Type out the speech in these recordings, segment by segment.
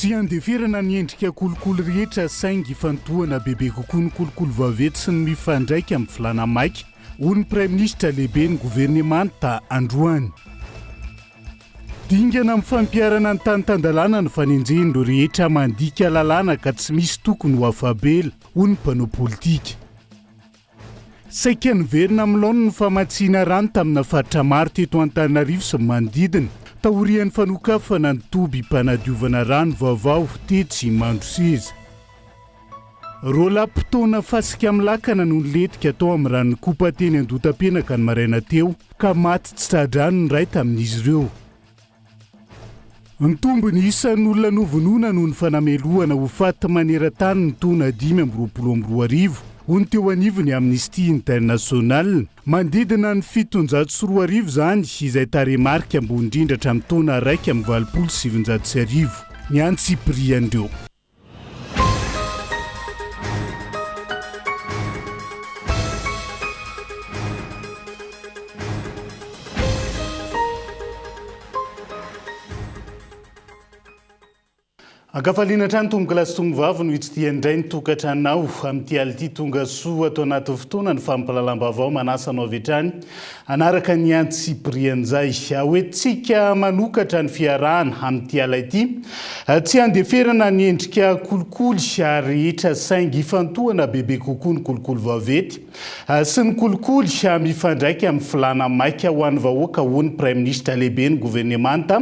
Tsy handeferana ny endrika kolikoly rehetra saingy hifantohana bebe kokoa ny kolikoly vaventy sy ny mifandraika amin'ny filàna maika, hoy ny Praiminisitra lehiben'ny governemanta androany. Dingana amin'ny fampiharana ny tany tan-dalàna ny fanenjehan'ireo rehetra mandika lalàna ka tsy misy tokony ho afa-bela, hoy ny mpanao politika. Saika niverina amin'ny laoniny ny famatsiana rano tamina faritra maro teto Antananarivo sy ny manodidina, taorian'ny fanokafana ny tobim-panadiovana rano vaovao tetsy Mandroseza. Roa lapa taona fasika amin'ny lakana no nilentika tao amin'ny rano nikopa teny Andotapenaka ny maraina teo, ka maty tsy tra-drano ny iray tamin'izy ireo. Nitombo ny isan'ny olona novonoina noho ny fanamelohana ho faty maneran-tany ny taona dimy amby roapolo amby roa arivo, hoy ny teo anivon'ny Amnesty International. Manodidina ny fitonjato sy roa arivo izany, izay tarehimarika ambony indrindra hatramin'ny taona iraika amby valopolo sy sivinjato sy arivo, ny antsipirian'ireo. Ankafaliana hatrany tompokolahy sy tomovavy no hitsidihana indray ny tokantranonao. Amin'ity alina ity, tonga soa ato anatin'ny fotoana ny fampahalalam-baovao manasa anao avy hatrany Hanaraka ny an'i Tsiprianjay. Ho entintsika manokatra ny fiarahana amin'ity ala ity. Tsy handeferana ny endrika kolikoly ary rehetra saingy hifantohana bebe kokoa ny kolikoly vaventy sy ny kolikoly mifandraika amin'ny filàna maika ho an'ny vahoaka, hoy ny Praiminisitra Lehiben'ny Governemanta.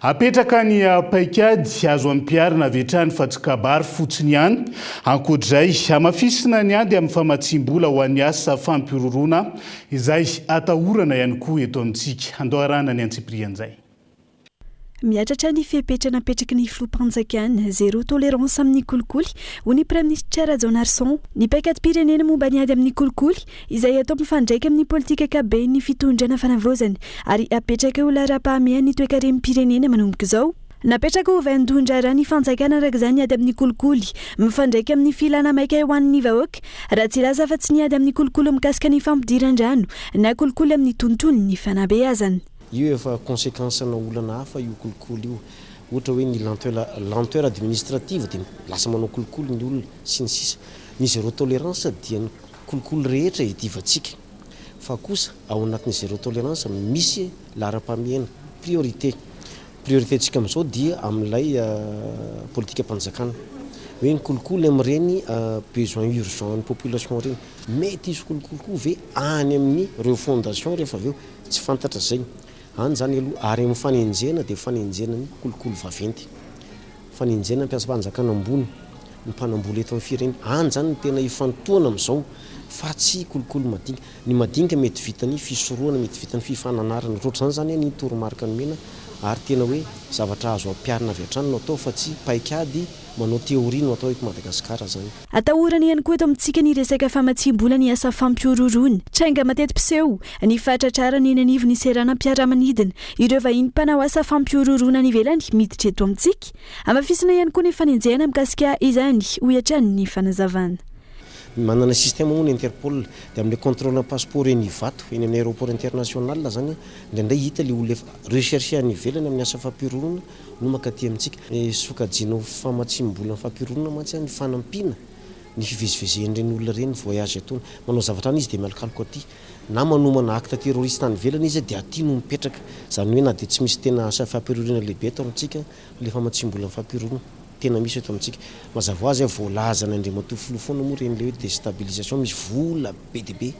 Apetraka ny paikady. Azo ampiharina avy hatrany fa tsy kabary fotsiny ihany. Ankoatra izay, hamafisina ny ady amin'ny famatsiam-bola ho an'ny asa fampihorohoroana Izay atahorana ihany koa eto amintsika. Handoharana ny antsipirihan'izay. Mihatratra ny fepetra napetraky ny filoham-panjakana, zéro tolérance amin'ny kolikoly, hoy ny praiminisitra Rajaonarison. Ny paikadim-pirenena momba ny ady amin'ny kolikoly, izay atao mifandraika amin'ny politika ankapoben'ny fitondrana fanavaozana ary apetraka ho laharam-pahamehan'ny toekarem-pirenena manomboka izao, Napetraka ho vaindohan-draharaha ny fanjakana araka izany ny ady amin'ny kolikoly. Mifandraika amin'ny filana maika ho an'ny vahoaka raha tsy hilaza afa-tsy ny ady amin'ny kolikoly mikasika ny fampidiran-drano na kolikoly amin'ny tontolon'ny fanabeazana. Io efa conséquence ana olana hafa io kolikoly io. Ohatra hoe ny lenteur, lenteur administrative dia lasa manao kolikoly ny olona sy ny sisa. Ny zéro tolérance dia ny kolikoly rehetra iadivantsika. Fa kosa ao anatin'ny zéro tolérance misy laharam-pahamehana, priorité. Priorité ntsika amin'izao dia amin'ilay politikam-panjakana hoe ny kolikoly amin'ireny besoin urgent ny population ireny. Mety hisy kolikoly koa ve any amin'ny reo fondation rehefa avy eo? Tsy fantatra izay. Any izany aloha ary amin'ny fanenjehana dia fanenjehana ny kolikoly vaventy. Fanenjehana ny mpiasam-panjakana ambony, ny mpanambola eto amin'ny firene. Any izany no tena hifantohana amin'izao fa tsy kolikoly madinika. Ny madinika mety vitan'ny fisorohana, mety vitan'ny fifananarana, ohatra izany izany anie ny toromarika nomena ary tena hoe zavatra azo ampiharina avy hatrany no atao fa tsy paikady manao théorie no atao eto Madagasikara izany. Atahorana ihany koa eto amintsika ny resaka famatsiam-bola ny asa fampihorohoroana. Tranga mateti-piseho ny fahatratrarana eny anivon'ny seranam-piaramanidina ireo vahiny mpanao asa fampihorohoroana any ivelany miditra eto amintsika. Hamafisina ihany koa ny fanenjehana mikasika izany, hoy hatrany ny fanazavana. Manana système moa ny interpol dia amin'ilay contrôle ny passeport eny Ivato eny amin'ny aéroport international zany indraindray hita ilay olona efa rechercher any ivelany amin'ny asa fampironana no makaty amintsika sokajiana ho famatsiam-bola amin'ny fampironana mantsy ny fanampiana ny fivezivezen'ireny olona ireny ny voyage ataony manao zavatra any izy dia mialokaloka aty na manomana acte terroriste any ivelany izy dia aty no mipetraka izany hoe na dia tsy misy tena asa fampironana lehibe eto amintsika ilay famatsiam-bola amin'ny fampironana Tena misy eto amintsika. Mazava ho azy, voalazan' Andriamatoa Filoha foana moa ireny le hoe destabilisation, misy vola be dia be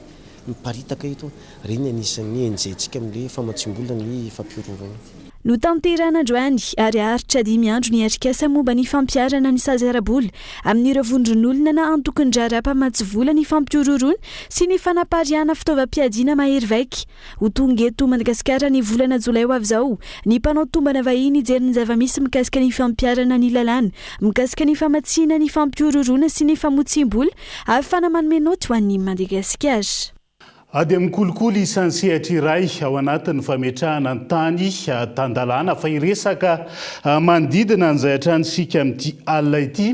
miparitaka eto, ireny ny anisan'ny enjehintsika amin'ilay famatsiam-bola ny fampihorohoroana. Notanterahina androany ary haharitra dimy andro ny atrikasa momba ny fampiharana ny sazy ara-bola amin'ireo vondron'olona na antokon'ny raharaha mpamatsy vola ny fampihorohoroana sy ny fanapariahana fitaovam-piadiana mahery vaika, Ho tonga eto Madagasikara ny volana jolay ho avy izao ny mpanao tombana vahiny hijery ny zava-misy mikasika ny fampiharana ny lalàna mikasika ny famatsiana ny fampihorohoroana sy ny famotsiam-bola ahafahana manome naoty ho an'i Madagasikara. Ady amin'ny kolikoly isan-tsehatra iray ao anatin'ny fametrahana ny tany tan-dalàna fa hiresaka manodidina an'izay hatrany isika amin'ity alina ity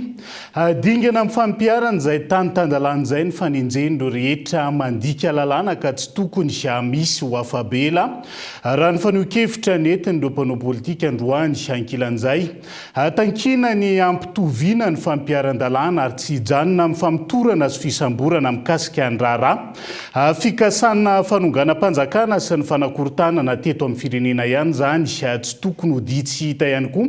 Dingana amin'ny fampiharana izay tany tan-dalàna izay ny fanenjen'ireo rehetra mandika lalàna ka tsy tokony hamisy ho afa-bela, raha ny fanehoan-kevitra nentin'ireo mpanao politika androany. Ankilan'izay, tankina ny hampitoviana ny fampiharan-dalàna ary tsy hijanona amin'ny famotorana sy fisamborana mikasika ny raharaha fikasana fanonganam-panjakana sy ny fanakorontanana teto amin'ny firenena ihany izany. Tsy tokony ho dihy tsy hita ihany koa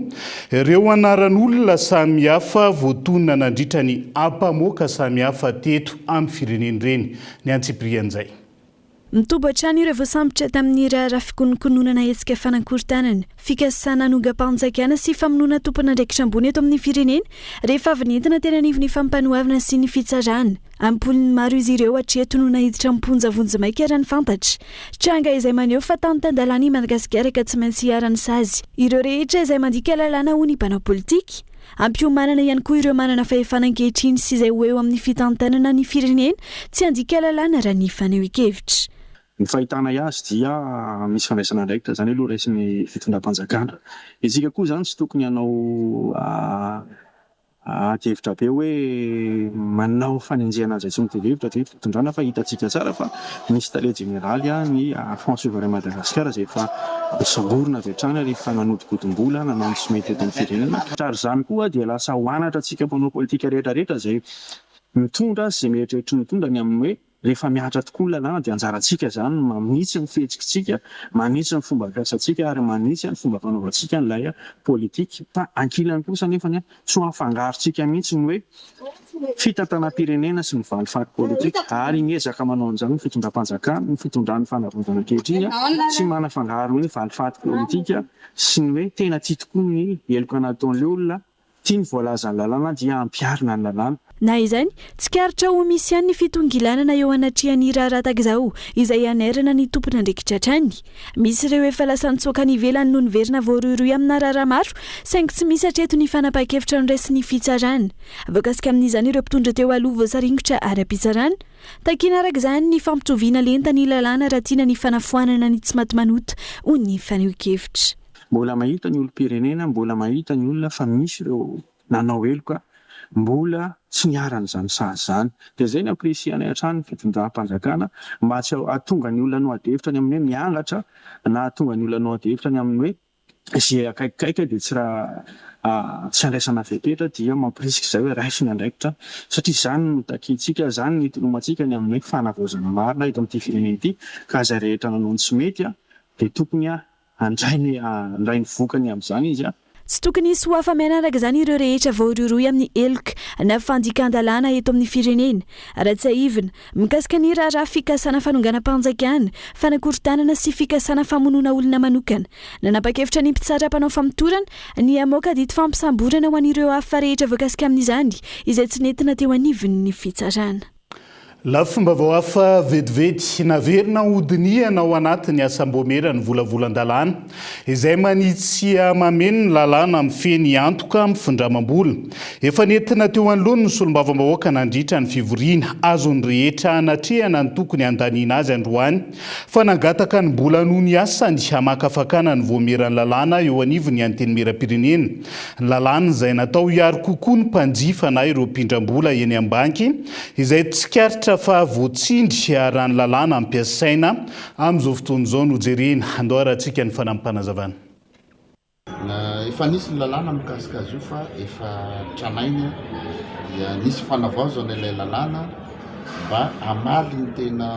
Ireo anaran'olona samihafa voatonona nandritra ny ampamoaka samihafa teto amin'ny firenena ireny ny antsipirian'izay. Mitoby hatrany ireo voasambotra tamin'ny raharaha fikononkononana hetsika fanakorontanana, fikasana hanongam-panjakana sy famonoana tompon'andraikitra ambony eto amin'ny firenena rehefa avy nentina teny anivon'ny fampanoavana sy ny fitsarana. Am-polony maro izy ireo hatreto no naiditra am-ponja vonjimaika raha ny fantatra. Tranga izay maneho fa tany tan-dalàna i Madagasikara ka tsy maintsy iharan'ny sazy ireo rehetra izay mandika lalàna hoy ny mpanao politika. Ampiomanana ihany koa ireo manana fahefana ankehitriny sy izay ho eo amin'ny fitantanana ny firenena tsy handika lalàna raha ny fanehoan-kevitra. Ny fahitànay azy dia misy fandraisana andraikitra, izany aloha raisin'ny fitondram-panjakana. Isika koa izany tsy tokony hanao. Ady hevitra be hoe manao fanenjehana an'izay tsy mitovy hevitra aty fitondrana fa hitantsika tsara fa misy tale jeneraly ny Front Souverain Madagascar izay efa nosamborina avy hatrany rehefa nanodikodimbola nanao ny tsy mety eto amin'ny firenena ka ary izany koa dia lasa ho anatra antsika mpanao politika rehetra rehetra izay mitondra sy izay mieritreritra ny hitondra ny amin'ny hoe Rehefa mihatra tokoa ny lalàna dia anjarantsika izany ny manitsy ny fihetsikitsika, manitsy ny fomba fiasantsika ary manitsy ny fomba fanaovantsika an'ilay politika. Fa ankilany kosa anefa tsy ho afangarontsika mihitsy ny hoe fitantanam-pirenena sy ny valifaty politika ary miezaka manao an'izany ny fitondram-panjakana, ny fitondran'ny fanavaozana ankehitriny tsy manafangaro ny hoe valifaty politika sy ny hoe tena tia tokoa ny heloka nataon'ilay olona. Ity ny voalazan'ny lalàna dia hampiharina ny lalàna. Na izany, tsikaritra ho misy ihany ny fitongilanana eo anatrehan'ny raharaha tahaka izao izay hanairana ny tompon'andraikitra hatrany. Misy ireo efa lasa nitsoaka any ivelany no niverina voarohirohy amina raharaha maro saingy tsy misy hatreto ny fanapahan-kevitra noraisin'ny fitsarana. Voakasika amin'izany ireo mpitondra teo aloha voasaringotra ara-pitsarana. Takiana araka izany ny fampitoviana lenta ny lalàna raha tiana ny fanafoanana ny tsimatimanota, hoy ny fanehoan-kevitra. Mbola mahita ny olom-pirenena, mbola mahita ny olona fa misy ireo nanao heloka mbola tsy niharan'izany sazy izany. Dia izay no apprécier-nay hatrany ny fitondram-panjakana mba tsy hahatonga ny olona hanao adihevitra ny amin'ny hoe miangatra na hahatonga ny olona hanao adihevitra ny amin'ny hoe izay akaikikaiky dia tsy tsy handraisana fepetra dia mampirisika izay hoe raiso ny andraikitra satria izany no takiantsika, izany no itolomantsika ny amin'ny hoe fanavaozana marina eto amin'ity firenena ity ka izay rehetra nanao ny tsy mety dia tokony Handray ny handray ny vokany amin'izany izy an! Tsy tokony hisy ho afa-miaina araka izany ireo rehetra voarohirohy amin'ny heloka na fandikan-dalàna eto amin'ny firenena. Raha tsiahivina, mikasika ny raharaha fikasana fanonganam-panjakana, fanakorontanana sy fikasana famonoana olona manokana, nanapa-kevitra ny mpitsara mpanao famotorana ny hamoaka didim-fampisamborana ho an'ireo hafa rehetra voakasika amin'izany izay tsy nentina teo anivon'ny fitsarana. Lafim-baovao hafa vetivety, Naverina hodinihana ao anatin'ny asam-boamera ny volavolan-dalàna izay manitsia mameno ny lalàna mifehy ny antoka amin'ny findramam-bola. Efa nentina teo anoloany ny solombavambahoaka nandritra ny fivoriana azon'ny rehetra hanatrehana ny tokony handaniana azy androany fa nangataka ny mbola noho ny asany hamakafakana ny voameran'ny lalàna eo anivon'ny Antenimierampirenena Lalàna izay natao hiaro kokoa ny mpanjifa na ireo mpindram-bola eny am-banky, izay tsikaritra fa voatsindry raha ny lalàna ampiasaina amin'izao fotoana izao no jerena. Andao arahantsika ny fanampim-panazavana. Efa nisy ny lalàna mikasika azy io fa efa tranainy, dia nisy fanavaozana ilay lalàna mba hamaly ny tena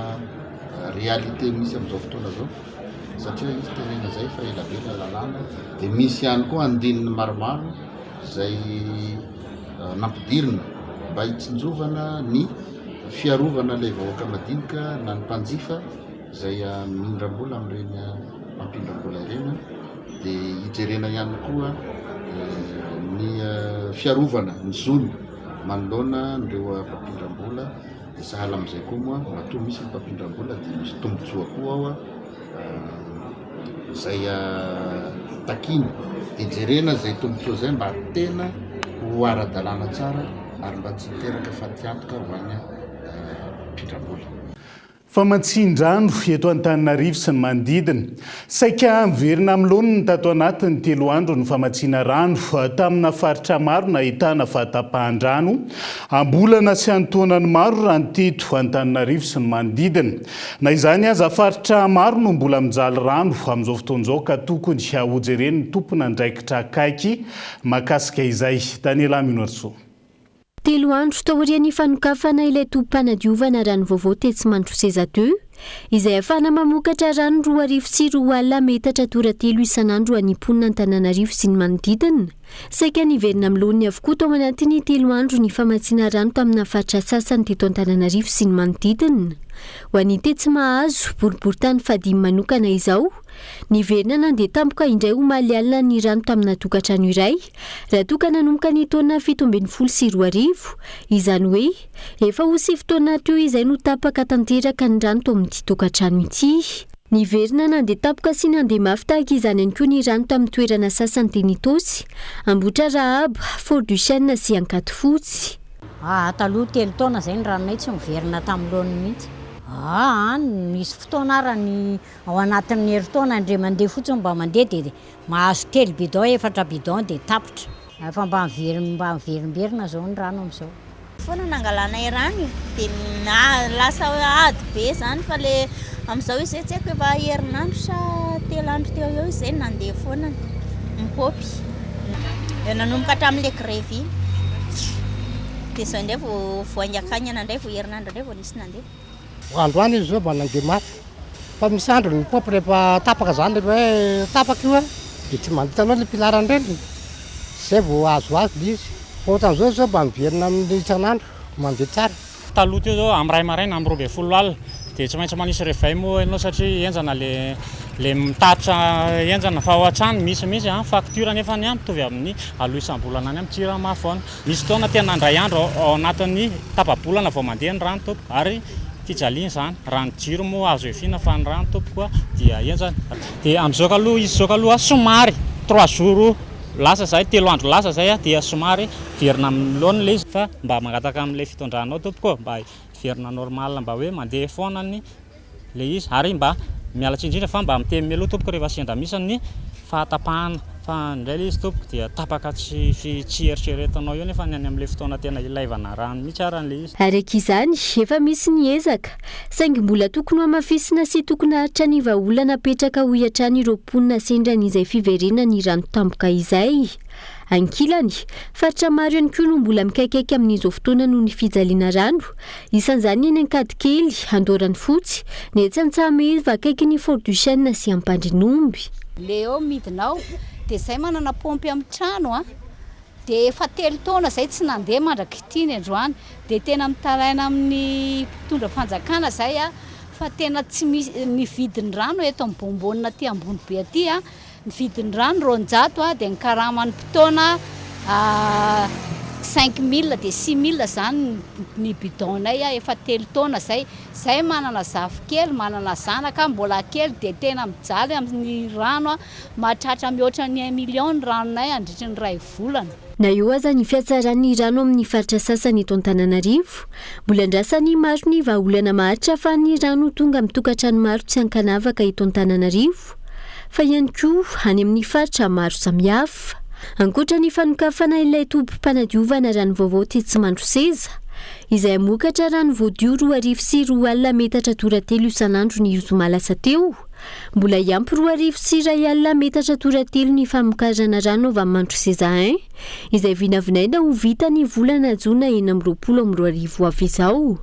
réalité misy amin'izao fotoana izao. satria misy tenenina zay fa ela be lay lalàna dia misy ihany koa andininy maromaro zay nampidirina mba hitsinjovana ny fiarovana ilay vahoaka madinika na ny mpanjifa zay amindram-bola amin'ireny mpampindram-bola ireny dia hijerena ihany koa ny fiarovana ny zony manoloana an'ireo mpampindram-bola Dia sahala amin'izay koa moa matoa misy ny fampindram-bola dia misy tombontsoa koa ao izay takiana. Dia jerena izay tombontsoa izay mba tena ho ara-dalàna tsara ary mba tsy hiteraka fatiantoka ho an'ny mpindram-bola. Famantsian-drano eto Antananarivo sy ny manodidina. Saika miverina amin'ny laoniny tato anatin'ny telo andro ny famatsiana rano tamina faritra maro nahitana fahatapahan-drano am-bolana sy an-taonany maro raha teto Antananarivo sy ny manodidina. Na izany aza, faritra maro no mbola mijaly rano amin'izao fotoana izao ka tokony hojeren'ny tompon'andraikitra akaiky mahakasika izay. Daniela Minoarisoa. Telo andro taorian'ny fanokafana ilay tobim-panadiovana rano vaovao tetsy Mandroseza ii, izay ahafahana mamokatra rano roa arivo sy roa alina metatra tora telo isan'andro ho an'ny mponina Antananarivo sy ny manodidina, saika niverina amin'ny laoniny avokoa tao anatin'ny telo andro ny famatsiana rano tamina faritra sasany teto Antananarivo sy ny manodidina. Ho an'ny tetsy Mahazo, boriborintany fahadimy manokana izao, niverina nandeha tampoka indray omaly alina ny rano tamina tokantrano iray, Raha toa ka nanomboka ny taona fito ambin'ny folo sy roa arivo, izany hoe efa ho sivy taona teo izay no tapaka tanteraka ny rano tao amin'ity tokantrano ity. Niverina nandeha tampoka sy nandeha mafy tahaka izany ihany koa ny rano tamin'ny toerana sasany teny Itaosy, Ambohitrarahaba, Fort du Chêne sy Ankadifotsy. Aa taloha telo taona izay ny ranonay tsy niverina tamin'ny laoniny mihitsy. Aa any nisy fotoana ara ny ao anatin'ny herintaona indray mandeha fotsiny mba mandeha dia Mahazo telo bidon efatra bidon dia tapitra. Efa mba mba miverimberina zao ny rano amizao. Foana nangalanay rano e, de lasa ady be zany fa le amizao izay tsy haiko efa herinandro sa telo andro teo eo izay no nandeha foana ny paopy, vao nanomboka hatramin'le grevy iny, de zao ndray vao vao haingakaingana ndray vao herinandro ndray vao nisy nandeha. Androany izy zao mba nandeha mafy fa misy andro ny pop rehefa tapaka zany rehefa hoe tapaka io a de tsy mandita loatra ny pilarany reny zay vao azo azo le izy fa ohatran'izao izy zao mba miverina amin'ny isan'andro mandeha tsara. Taloha teo zao amin'ny iray maraina amin'ny roa ambin'ny folo alina de tsy maintsy manisy reveil moa ianao satria henjana le le mitatitra henjana fa ao an-trano misy mihitsy an facture nefany an mitovy amin'ny aloha isam-bolana any amin'ny jirama foana. Misy fotoana tena indray andro ao anatin'ny tapa-bolana vao mandeha ny rano tompoko ary fijaliana izany raha ny jiro moa azo efiana fa ny rano tompoko a dia henjana dia amin'izao kaloha izy izao kaloha somary trois jours lasa izay telo andro lasa izay a dia somary hiverina amin'ny laoniny ilay izy fa mba mangataka amin'ilay fitondranao tompoko mba hiverina normal mba hoe mandeha foana ny ilay izy ary mba miala tsiny indrindra fa mba miteny mialoha tompoko rehefa sendra misy ny fahatapahana fa indray ilay izy tompoko dia tapaka tsy tsy eritreretinao eo nefa ny any amin'ilay fotoana tena ilaivana rano mihitsy ary ilay izy. Ary ankiizany, efa misy ny ezaka, saingy mbola tokony hohamafisina sy tokony haharitra ny vahaolana apetraka hoy hatrany ireo mponina sendra an'izay fiverenan'ny rano tampoka izay. Ankilany, faritra maro ihany koa no mbola mikaikaika amin'izao fotoana noho ny fijaliana rano, Isan'izany eny Ankadikely, Andoharanofotsy, ny etsy Antsahamehiva akaikin'ny Fort du Chêne sy Ampandrinomby. Le eo midina ao de zay manana pompy am trano a de efa telo taona zay tsy nandeha mandrak'ity ny androany de tena mitaraina amin'ny mpitondra fanjakana zay a fa tena tsy misy ny vidin'ny rano eto am bonbonina aty ambony be aty a Ny vidin-drano roanjato ha dia ny karaman'ny mpitaona cinq mille dia six mille izany ny bidon-nay ha efa telo taona izay. Izahay manana zafikely, manana zanaka ha mbola kely dia tena mijaly amin'ny rano ha, mahatratra mihoatra ny un million ny ranonay handritry ny iray volana. Na eo aza ny fihatsaran'ny rano amin'ny faritra sasany eto Antananarivo, mbola andrasan'ny maro ny vahaolana maharitra fa ny rano tonga amin'ny tokantrano maro tsy ankanavaka eto Antananarivo, Tompo, fa ihany koa any amin'ny faritra maro samihafa. Ankoatra ny fanokafana ilay tobim-panadiovana rano vaovao tetsy Mandroseza, izay hamokatra rano voadio roa arivo sy roa alina metatra tora telo isan'andro ny zoma lasa teo, mbola hiampy roa arivo sy iray alina metatra tora telo ny famokarana rano avy amin'ny Mandroseza I, izay vinavinaina ho vita ny volana jona enina amby roapolo amby roa arivo ho avy izao.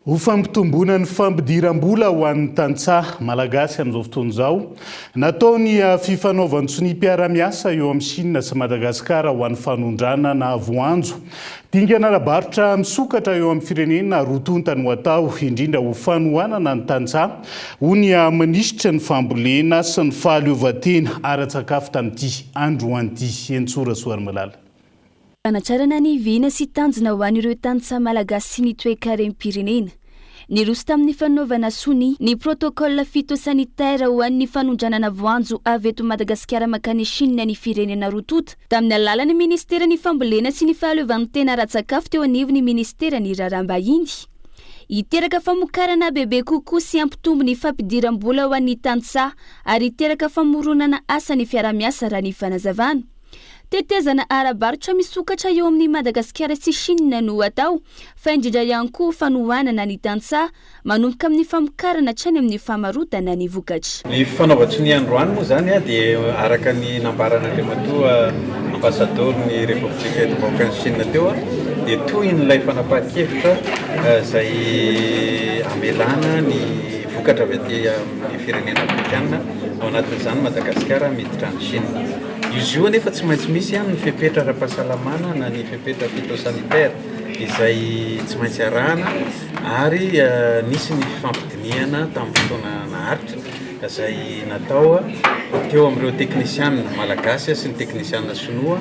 Ho fampitomboana ny fampidiram-bola ho an'ny tantsaha malagasy amin'izao fotoana izao, natao ny fifanaovan-tsoniam-piarahamiasa eo amin'i Shina sy Madagasikara ho an'ny fanondranana voanjo. Dingana ara-barotra misokatra eo amin'ny firenena roa tonta no atao, indrindra ho fanohanana ny tantsaha, hoy ny minisitry ny Fambolena sy ny fahaleovantena ara-tsakafo tamin'ity androany ity, Henintsoa Rasoarimalala. Fanatrarana ny vina sy tanjona ho an'ireo tantsaha malagasy sy ny toekarem-pirenena. Niroso tamin'ny fanaovana sonia ny protocole phytosanitaire ho an'ny fanondranana voanjo avy eto Madagasikara mankany Chine ny firenena roa tonta tamin'ny alalan'ny Ministeran'ny Fambolena sy ny Fahaleovantena Ara-tsakafo teo anivon'ny Ministeran'ny Raharaham-bahiny hiteraka famokarana bebe kokoa sy hampitombo ny fampidiram-bola ho an'ny tantsaha ary hiteraka famoronana asa ny fiaraha-miasa raha ny fanazavana Tetezana ara-barotra misokatra eo amin'i Madagasikara sy Chine no atao, fa indrindra ihany koa fanohanana ny tantsaha, manomboka amin'ny famokarana hatrany amin'ny famarotana ny vokatra. Ny fanaovan-tsonia androany moa izany dia araka ny nambaran'Andriamatoa Ambasadaoron'ny Repoblika eto am-bahoakan'i Chine teo dia tohin'ilay fanapahan-kevitra izay hamelana ny vokatra avy aty amin'ny firenena afrikana, ao anatin'izany Madagasikara, miditra any Chine. Izy io anefa tsy maintsy misy ihany ny fepetra ara-pahasalamana na ny fepetra phytosanitaire izay tsy maintsy arahana ary nisy ny fifampidinihana tamin'ny fotoana naharitra izay natao teo amin'ireo teknisianina malagasy sy ny teknisianina sinoa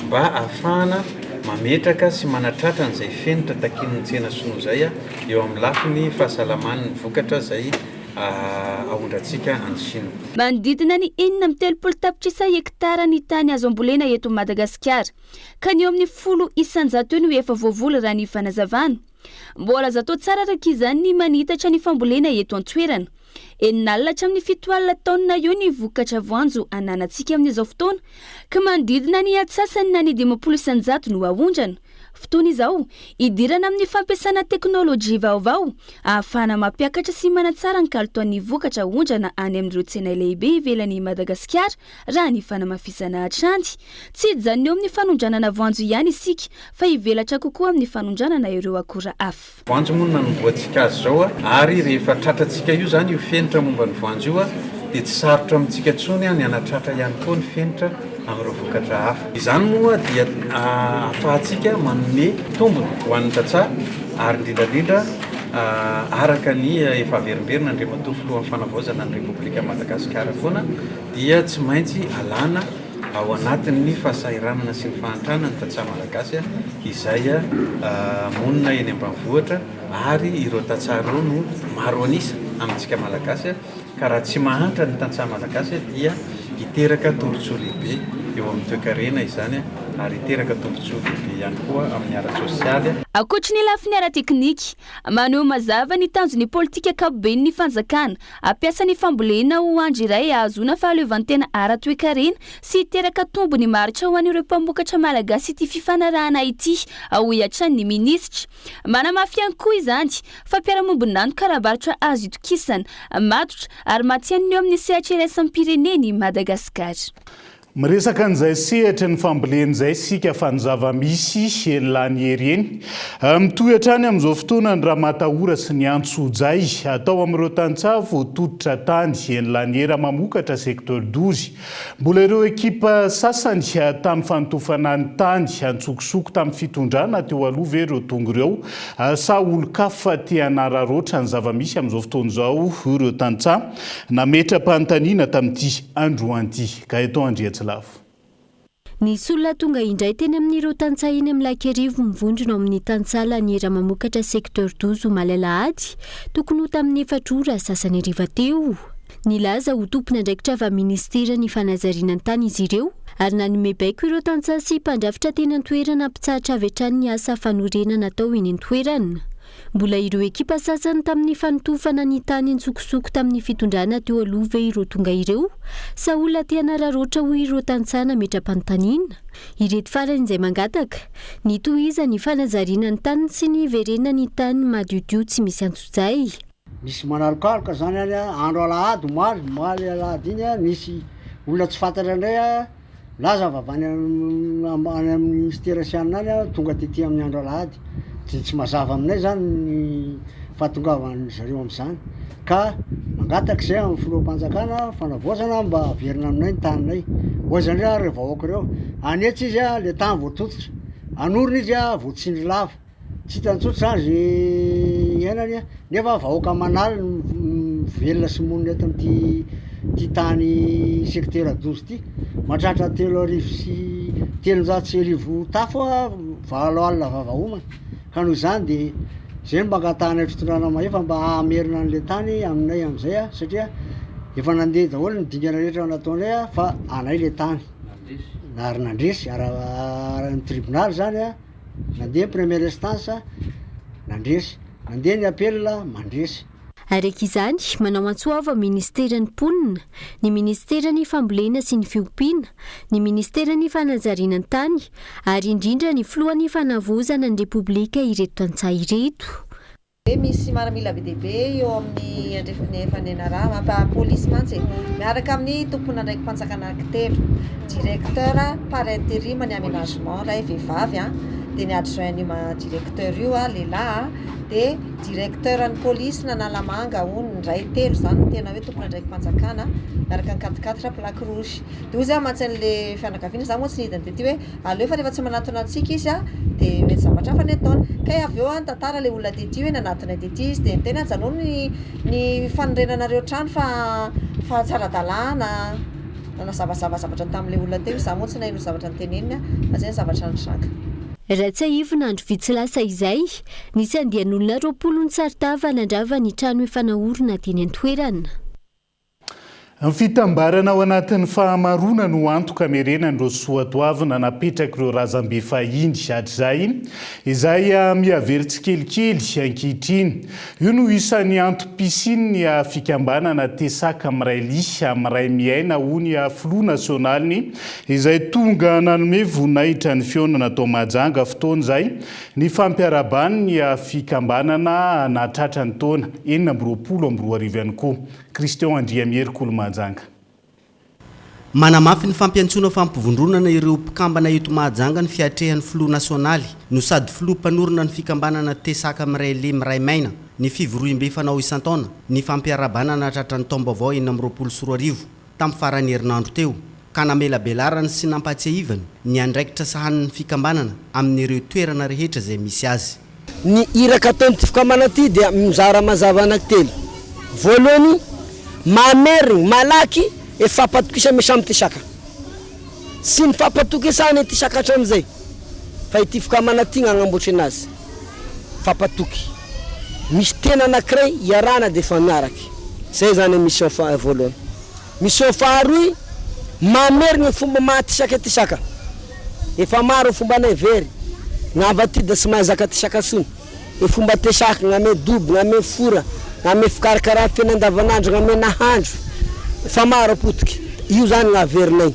mba hahafahana mametraka sy manatratra an'izay fenitra takian'ny tsena sinoa izay eo amin'ny lafiny fahasalamana ny vokatra izay aondrantsika any Shina. Manodidina ny enina amby telopolo tapitrisa hektara ny tany azo ambolena eto Madagasikara, ka ny eo amin'ny folo isan-jato eo no efa voavoly raha ny fanazavana. Mbola azo atao tsara araka izany ny manitatra ny fambolena eto an-toerana. Enina alina hatramin'ny fito alina taonina eo ny vokatra voanjo ananantsika amin'izao fotoana, ka manodidina ny antsasany na ny dimampolo isan-jato no aondrana. Fotoana izao hidirana amin'ny fampiasana teknolojia vaovao ahafahana mampiakatra sy manatsara ny kalitaon'ny vokatra aondrana any amin'ireo tsena lehibe ivelan'i Madagasikara raha ny fanamafisana hatrany. Tsy hijanona eo amin'ny fanondranana voanjo ihany isika fa hivelatra kokoa amin'ny fanondranana ireo akora hafa. Voanjo moa no nanombohantsika azy izao ary rehefa tratrantsika io izany io fenitra momba ny voanjo io dia tsy sarotra amintsika intsony ny hanatratra ihany koa ny fenitra amin'ireo vokatra hafa. Izany moa dia ahafahantsika manome tombony ho an'ny tantsaha ary indrindra indrindra araka ny efa averimberina Andriamatoa Filohan'ny Fanavaozana ny Repoblikan'i Madagasikara foana dia tsy maintsy alana ao anatin'ny fahasahiranana sy ny fahantrana ny tantsaha malagasy izay monina eny ambanivohitra ary ireo tantsaha ireo no maro an'isa amintsika malagasy ka raha tsy mahantra ny tantsaha malagasy dia hiteraka tombontsoa lehibe eo amin'ny toekarena izany ary hiteraka tombontsoa lehibe ihany koa amin'ny ara-tsosialy. Ankoatry ny lafiny ara-teknika, Maneho mazava ny tanjon'ny politika ankapoben'ny fanjakana. Ampiasa ny fambolena ho andry iray hahazoana fahaleovantena ara-toekarena sy hiteraka tombony maharitra ho an'ireo mpamokatra malagasy ity fifanarahana ity, hoy hatrany ny minisitra. Manamafy ihany koa izany fa mpiara-mombon'antoka ara-barotra azo itokisana, matotra ary matihanina eo amin'ny sehatra iraisam-pirenena i Madagasikara. Miresaka an'izay sehatry ny fambolena izay isika fa ny zava-misy eny Lanihery eny. Mitohy hatrany amin'izao fotoana ny ramatahora sy ny antsojay atao amin'ireo tantsaha voatototra tany eny Laniera mamokatra secteur dozy. Mbola ireo ekipa sasany tamin'ny fanotofana ny tany antsokosoko tamin'ny fitondrana teo aloha ve ireo tonga ireo sa olon-kafa te hanararaotra ny zava-misy amin'izao fotoana izao ireo tantsaha? Nametra-panontaniana tamin'ity androany ity Gaëtan Andriantsilavo. Nisy olona tonga indray teny amin'ireo tantsaha eny amin'ny Lakerivo mivondrona ao amin'ny tantsaha Laniera Mamokatra Secteur douze omaly alahady tokony ho tamin'ny efatra ora sasany hariva teo. Nilaza ho tompon'andraikitra avy amin'ny minisiteran'ny fanajariana ny tany izy ireo ary nanome baiko ireo tantsaha sy mpandrafitra teny an-toerana hampitsahatra avy hatrany ny asa fanorenana atao eny an-toerana. Mbola ireo ekipa sasany tamin'ny fanotofana ny tany an-tsokosoko tamin'ny fitondrana teo aloha ve ireo tonga ireo? Sa olona te hanararaotra hoy ireo tantsaha nametra-panontaniana? Ireto farany izay mangataka, ny tohizany ny fanajariana ny taniny sy ny hiverenany ny tany madiodio tsy misy antsojay. Misy manalokaloka zany any andro alahady omaly, omaly alahady iny, nisy olona tsy fantatra indray. Nilaza avy any amin'ny Minisitera sy an'ny any aho tonga tety amin'ny andro alahady dia tsy mazava aminay izany ny fahatongavan'izy ireo amin'izany ka mangataka izay amin'ny Filoham-panjakana fanavaozana mba haverina aminay ny taninay. Hoaizany re ary vahoaka ireo, hanetsa izy le tany voatototra, hanorina izy voatsindry lava. Tsy hitany intsony sazy hiainany an, nefa vahoaka manaly no velona sy monina eto amin'ity ty tany secteur doza ty, mahatratra telo arivo sy telonjato sy arivo tafo valo alina vava homana, ka noho izany de zay no mba angatahanay fitondrana mahefa mba hamerina anle tany aminay amzay an, satria efa nandeha daholo ny dingana rehetra nataonay an fa anay le tany ary nandresy ara ny tribonaly zany an. Nandeha ny première instance, nandresy. Nandeha ny appel, mandresy. Araka izany, manao antso avo Ministeran'ny Mponina, ny Ministeran'ny Fambolena sy ny Fiompiana, ny Ministeran'ny Fanajariana ny Tany ary indrindra ny Filohan'ny Fanavaozana ny Repoblika ireto tantsaha ireto. Hoe misy maramila be dia be eo amin'ny andrefan'ny FNNRA, mampa police mantsy e! Miaraka amin'ny tomponandraiki-panjakana ankitelo, directeur par interim ny aménagement iray vehivavy an, dia ny adjoint ny directeur io lehilahy an, dia directeur ny police nanalamanga hono indray telo izany no tena hoe tomponandraiki-panjakana miaraka ny quatre quatre plaque rouge. Dia hoy za mantsy an'le fianakaviana, za moa tsy nidina dia ty hoe. Aleo fa rehefa tsy manatona antsika izy a de mety zavatra hafa ny ataony. Kay avy eo a ny tantara le olona tety hoe nanatonay tety izy de ny tena ajanao ny ny fanorenanareo trano fa fa tsy ara-dalàna nanazavazava zavatra tamle olona teo izy za moa tsy naheno zavatra noteneniny a fa zay ny zavatra nitranga. Raha tsiahivina andro vitsy lasa izay, nisy andian'olona roapolo nitsaritava nandrava ny trano efa nahorina teny an-toerana. Ny fitambarana ao anatin'ny fahamaroana no antoko hamerenan'ireo soatoavina napetrak'ireo razambe fahiny hatrizay, izay mihavery tsikelikely ankehitriny. Io no isan'ny antom-pisian'ny fikambanana Tesac miray liha, miray miaina ho ny filoha nasionaly, izay tonga nanome voninahitra ny fihaonana tao Mahajanga fotoana izay Ny fampiaraban'ny ny fikambanana nahatratra ny taona enina amby roapolo amby roa arivo ihany koa. Christian Andriamihery Kolomahajanga. Manamafy ny fampiantsoana fampivondronana ireo mpikambana eto Mahajanga ny fiatrehan'ny filoha nasionaly no sady filoha mpanorina ny fikambanana Tesaka Miray Lehy Miray Maina ny fivoriambe fanao isan-taona ny fampiarabana nahatratra ny taom-baovao enina amby roapolo sy roa arivo tamin'ny faran'ny herinandro teo, ka namelabelarany sy nampahatsiahivany ny andraikitra sahanin'ny fikambanana amin'ireo toerana rehetra izay misy azy. Ny iraka ataon'ity fikambanana ity dia mizara mazava anankitelo. Voalohany, mamerigny malaky e fampatokisa misy amin'ity saka. Tsy ny fampatokisana ity saka hatramin'izay, fa ity fikambanana ity no agnamboatrina azy. fampatoky. Misy tena anankiray iarahana dia efa miaraka. Izay izany ny mission faha voalohany. Mission faharoy, mamerina ny fomba maha tisaka ity saka. Efa maro ny fomba anay very, na avatida tsy mahay zaka tisaka tsony. Ny fomba tesak, na ame dobo, na ame fora, na ame fikarakarana fiaina andavanandro, na ame nahandro. Efa maro potika. Io izany no averinay.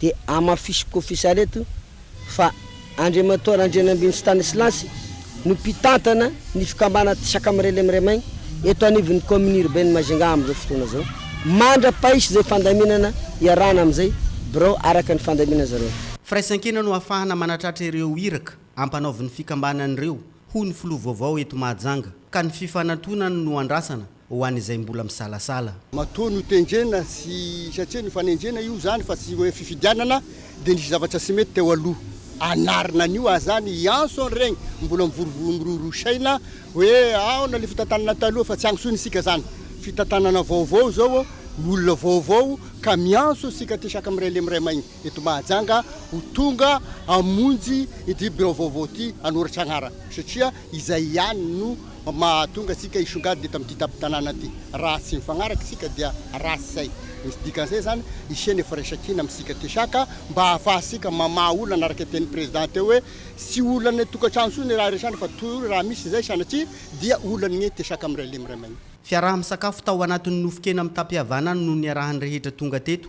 dia hamafisiko fisary eto fa Andriamatoa Randrianambininy Stanislas no mpitantana ny fikambanana Tsaka Mirele Miremay eto anivon'ny Kaominina Urbaine Majunga amin'izao fotoana izao. Mandra-pahisy izay fandaminana iarahana amin'izay birao araka ny fandaminana zareo. Firaisankina no hahafahana manatratra ireo iraka ampanaovin'ny fikambanana ireo, hoy ny Filoha vaovao eto Mahajanga, ka ny fifanantonana no andrasana. ho an'izay mbola misalasala. Matoa notendrena sy satria nifanenjena io zany fa tsy hoe fifidianana dia nisy zavatra tsy mety teo aloha hanarina an'io aza zany i Anson regny mbola mivory miroro saina hoe aona le fitantanana taloha fa tsy agnisoina isika zany fitantanana vaovao zao ny olona vaovao ka miantso isika ty saka miray lemy miray maigny. eto Mahajanga ho tonga hamonjy ity birao vaovao ity hanoratra anarana satria izay ihany no mahatonga antsika hisongadina eto amin'ity tampon-tanàna ity. Raha tsy mifagnaraka isika dia ratsy izay. Misy dikan'izay izany hisian'ny ny firaisan-kina amintsika aty saka mba hahafahantsika mamaha olana araka ny tenin'ny Président teo hoe tsy olan'ny tokantrano intsony ny raha iresahana fa toa raha misy izay sanatria dia olan'ny aty saka miray lehy miray maina. Fiaraha-misakafo tao anatin'ny nofon-kena mitam-pihavanana no niarahan'ny rehetra tonga teto.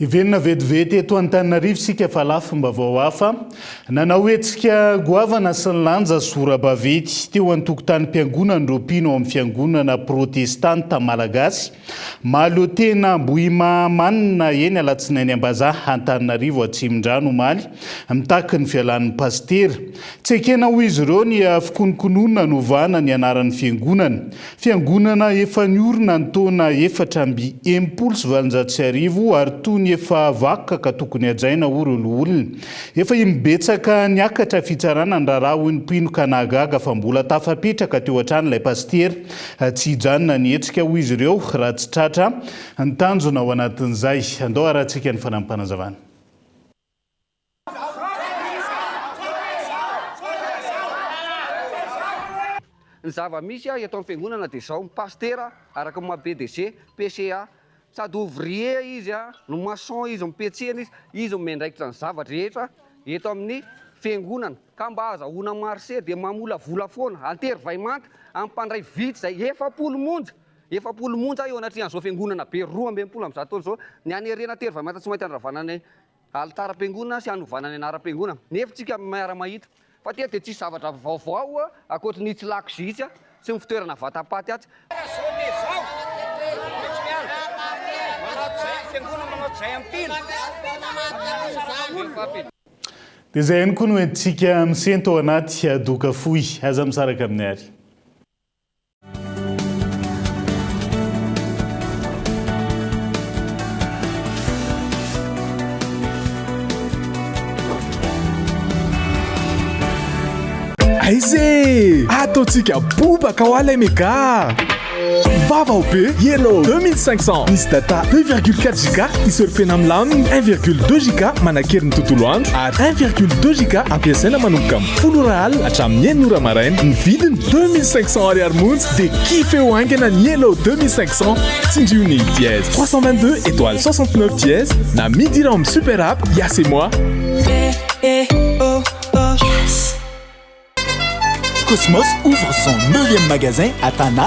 Hiverina vetivety eto Antananarivo isika fa lafim-baovao hafa. Nanao hetsika goavana sy nilanja sora-baventy teo an-tokotanim-piangonan'ireo mpino ao amin'ny Fiangonana Protestanta Malagasy Mahaleotena Ambohimahamanina eny Alatsinainy Ambazaha Antananarivo Atsimondrano omaly mitaky ny fialan'ny Pasitera. Tsy ekena hoy izy ireo ny fikonokonoana novahana ny anaran'ny Fiangonana Fiangonana efa niorina ny taona efatra amby enimpolo sy valonjato sy arivo ary toa ny efa vakoka ka tokony hajaina hoy ireo loholona. Efa imbetsaka niakatra fitsarana ny raharaha hoy ny mpino ka nahagaga fa mbola tafapetraka teo hatrany ilay pasitera. Tsy hijanona ny hetsika hoy izy ireo raha tsy tratra ny tanjona ao anatin'izay. Andao harahantsika ny fanampim-panazavana. Ny zava misy eto am fiangonana dia zao, pasitera araka ny maha pdg, PCA, sady ouvrier izy a, ny maçon izy, mipetsena izy, izy no miandraikitra ny zava drehetra eto amin ny fiangonana, ka mba azahoana marché dia mamolavola foana, antery vaimanta am mpandray vitsy zay, efapolo monja, efapolo monja eo anatrehan zao fiangonana be roa ambin'ny folo am zato taona zao, ny hanerena antery vaimanta tsy maintsy andravana ny Alitaram-piangonana sy hanovana ny anaram-piangonana. Nefa isika miara-mahita fa teto dia tsisy zavatra vaovao ankoatry ny tsy lakozia itsy sy ny fitoerana vatapaty atsy. Dia izay ihany koa no entintsika misento ao anaty doka fohy. Aza misaraka amin'ny Ary. aize ataontsika bobaka ho alay mega vava ho be yellow 2500 misy data 2,4 giga isurfena milaminy 1,2 giga manakery ny tontolo andro ary 1,2 giga ampiasaina manomboka Folo ora alina hatramin'ny enina ora maraina. Ny vidiny, deux mille cinq cents ariary monja dia kifeho haingana ny Yellow deux mille cinq cents. Tsindrio ny dièse trois cent vingt deux étoile soixante neuf dièse na midira ao amin'ny super app Yas et moi. Cosmos ouvre son neuvième magasin à Tana.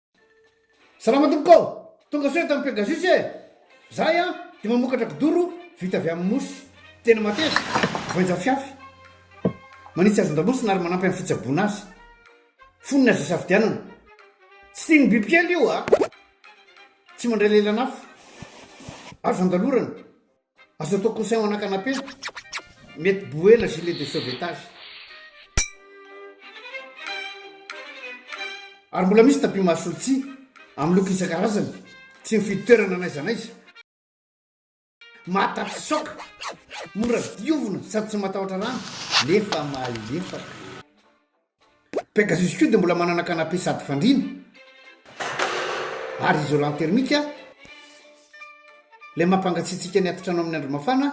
Salama tompoko ô! Tonga soa eto amin'ny Pegasus e! Zahay an, dia mamokatra kidoro vita avy amin'ny mosy, tena mateza, voainjafiafy. Manitsy hazan-damosina ary manampy amin'ny fitsaboana azy. Fonony azo isafidianana. Tsy tian'ny bibikely io a! Tsy mandray lelan'afo. Azo andalorana. Azo atao coussin ho ana canapé, mety bouée na gilet de sauvetage. Ary mbola misy tapis mahasolontsihy amin'ny loko isan-karazany, tsy mifidy toerana n'aiza n'aiza. Mahatapitsoaka, mora diovina sady tsy matahotra rano nefa mahalefaka. Pegasus koa dia mbola manana canapé sady fandriana ary isolant thermique ilay mampangatsiatsiaka ny atitrano amin'ny andro mafana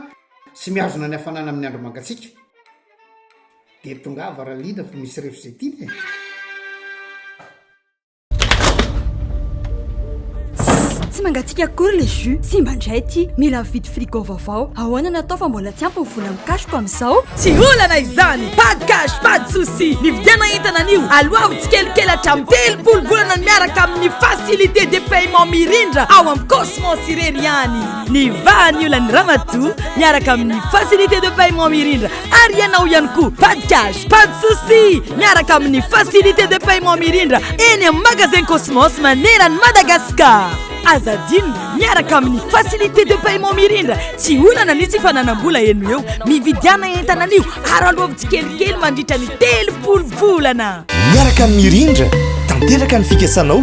sy mihazona ny hafanana amin'ny andro mangatsiaka. Dia tongava Ralina fa misy refo izay tiana e! Tsy mangatsiaka akory le jus. Simba indray ity. Mila mividy frigo vaovao. Ahoana natao fa mbola tsy ampy ny vola amin'ny cashko amin'izao? Tsy olana izany. Pas de cash, pas de souci. Nividiana entana anio. Aloavo tsikelikely hatramin'ny telopolo volana ny miaraka amin'ny facilité de paiement mirindra ao amin'ny Cosmos irery ihany. Ny vahan'ny olan'ny ramatoa miaraka amin'ny facilité de paiement mirindra. ary ianao ihany koa pas de cash pas de souci miaraka amin'ny facilité de paiement mirindra eny amin'ny magasin cosmos manerany madagascar aza adinina miaraka amin'ny facilité de paiement mirindra tsy olana ny tsy fananam-bola eno eo mividiana entana anio ary alohavy tsikelikely mandritra ny telopolo volana miaraka amin'ny mirindra tanteraka ny fikasanao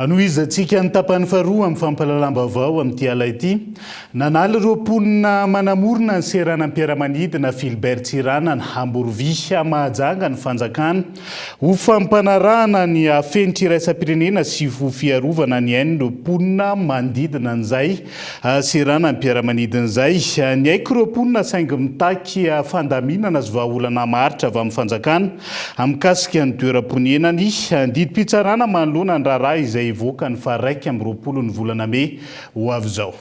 Hanohizantsika ny tapany faharoa amin'ny fampahalalam-baovao amin'ity ala ity. Nanaly ireo mponina manamorona ny seranam-piaramanidina Philbert Tsiranana, Amborovy, Mahajanga ny fanjakana. Ho fampanarahana ny hafenitra iraisam-pirenena sy ho fiarovana ny ain'ireo mponina manodidina an'izay seranam-piaramanidina izay, niaiky ireo mponina saingy mitaky fandaminana sy vahaolana maharitra avy amin'ny fanjakana mikasika ny toeram-ponena ny didim-pitsarana manoloana ny raharaha izay hivoaka ny faha iraika amby roapolo ny volana mey ho avy izao.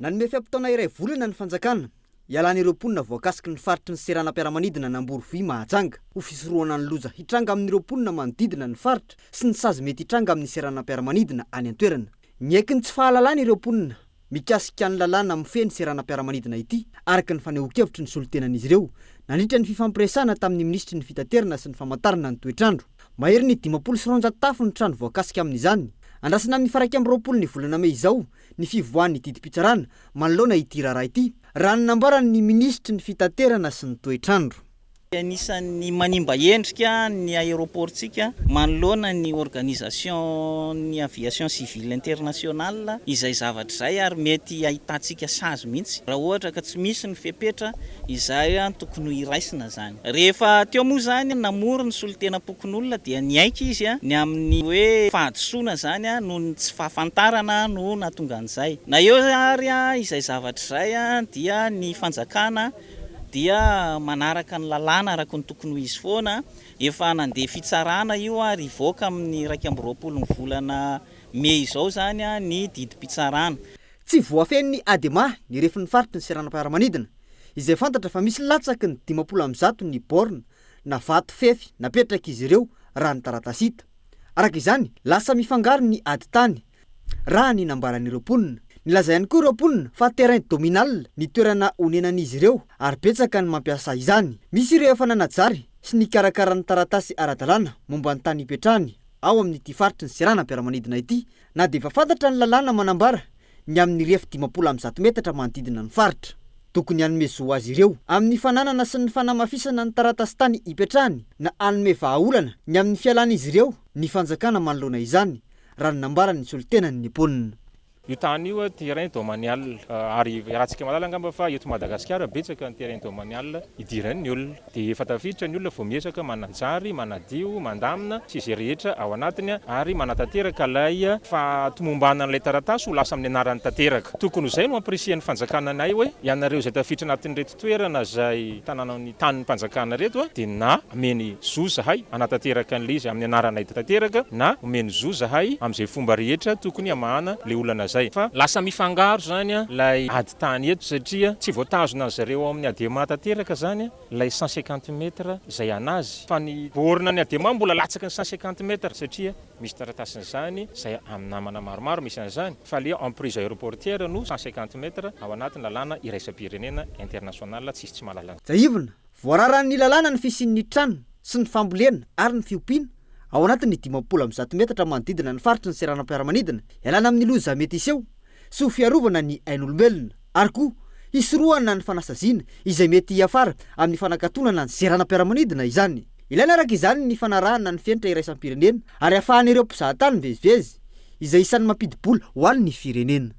Nanome fe-potoana iray volana ny fanjakana Ialan'ireo mponina voakasiky ny faritry ny seranam-piaramanidina an'Amborovohihy Mahajanga ho fisorohana ny loza hitranga amin'ireo mponina manodidina ny faritra sy ny sazy mety hitranga amin'ny seranam-piaramanidina any an-toerana. Miaiky ny tsy fahalalana ireo mponina mikasika ny lalàna mifehy ny seranam-piaramanidina ity, araka ny fanehoan-kevitry ny solontenan'izy ireo nandritra ny fifampiresahana tamin'ny minisitry ny Fitaterana sy ny famantarana ny toetr'andro. Maherin'ny dimampolo sy roanjato tafo ny trano voakasika amin'izany. Andrasana amin'ny faraika amby roapolo ny volana mey izao ny fivoahan'ny didim-pitsarana manoloana ity raharaha ity, raha ny nambaran'ny minisitry ny Fitaterana sy ny toetr'andro. Anisan'ny manimba endrika ny aéroport-tsika manoloana ny Organisation-n'ny Aviation Civile Internationale izay zavatra izay ary mety hahitantsika sazy mihitsy raha ohatra ka tsy misy ny fepetra izay tokony ho iraisina izany. Rehefa teo moa izany namory ny solontenam-pokonolona dia niaiky izy ny amin'ny hoe fahadisoana izany noho ny tsy fahafantarana no nahatonga an'izay. Na eo ary izay zavatra izay dia ny fanjakana dia manaraka ny lalàna araka ny tokony ho izy foana. Efa nandeha fitsarana io ary hivoaka amin'ny iraika amby roapolo ny volana mey izao izany ny didim-pitsarana. Tsy voafehin'ny Adema ny refin'ny faritry ny seranam-piaramanidina. izay fantatra fa misy latsaky ny dimampolo amby zato ny borne na vato fefy napetrak'izy ireo raha ny taratasy hita. Araka izany, lasa mifangaro ny ady tany, raha ny nambaran'ireo mponina. Nilaza ihany koa ireo mponina fa terrain dominal ny toerana onenan'izy ireo ary betsaka ny mampiasa izany. Misy ireo efa nanajary sy nikarakara ny taratasy ara-dalàna momba ny tany hipetrahany ao amin'ity faritry ny seranam-piaramanidina ity na dia efa fantatra ny lalàna manambara ny amin'ny rihefy dimampolo amby zato metatra manodidina ny faritra. Tokony hanome zo azy ireo amin'ny fananana sy ny fanamafisana ny taratasin-tany ipetrahany na hanome vahaolana ny amin'ny fialan'izy ireo ny fanjakana manoloana izany, raha ny nambaran'ny solontenan'ny Nippona. Io tany io terrain domanial ary iarahantsika mahalala angamba fa eto Madagasikara betsaka ny terrain domanial idiran'ny olona. Dia efa tafiditra ny olona vao miezaka manajary, manadio, mandamina sy izay rehetra ao anatiny ary manatanteraka ilay fahatomombanana an'ilay taratasy ho lasa amin'ny anarany tanteraka. Tokony ho izay no hampirisihan'ny fanjakana anay hoe ianareo izay tafiditra anatin'ireto toerana izay tanànan'ny tanim-panjakana ireto dia na ameny zo zahay hanatanteraka an'ilay izy amin'ny anaranay tanteraka na omeny zo zahay amin'izay fomba rehetra tokony hamahana ilay olana izay fa lasa mifangaro izany ilay tany eto satria tsy voatazona azy ireo ao amin'ny Adema tanteraka izany ilay cent cinquante mètres izay anazy fa ny borne ny Adema mbola latsaky ny cent cinquante mètres satria misy taratasin'izany izay amin'ny namana maromaro misy an'izany fa ilay emprise aeroportière no cent cinquante mètres ao anatin'ny lalàna iraisam-pirenena international tsisy tsy mahalala an'izany. Tsiahivina, voararan'ny lalàna ny fisian'ny trano sy ny fambolena ary ny fiompiana ao anatin'ny dimampolo amby zato metatra manodidina ny faritry ny seranam-piaramanidina ialana amin'ny loza mety hiseho sy ho fiarovana ny ain'olombelona, ary koa hisorohana ny fanasaziana izay mety hiafara amin'ny fanakatonana ny seranam-piaramanidina izany. Ilaina araka izany ny fanarahana ny fenitra iraisam-pirenena ary ahafahan'ireo mpizaha tany mivezivezy, izay isan'ny mampidi-bola ho an'ny firenena.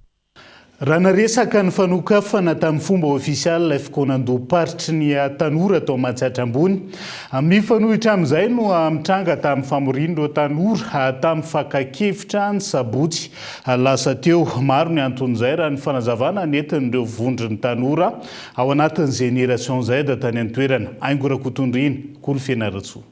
Raha naresaka ny fanokafana tamin'ny fomba ofisialy ilay fikaonandoham-paritry ny tanora tao Matsiatra Ambony, mifanohitra amin'izay no mitranga tamin'ny famorian'ireo tanora tamin'ny fakan-kevitra ny sabotsy Lasa teo. Maro ny anton'izay raha ny fanazavana nentin'ireo vondron'ny tanora ao anatin'ny Génération Z tany an-toerana. Aingo Rakotondriana, Kolo Fianarantsoa.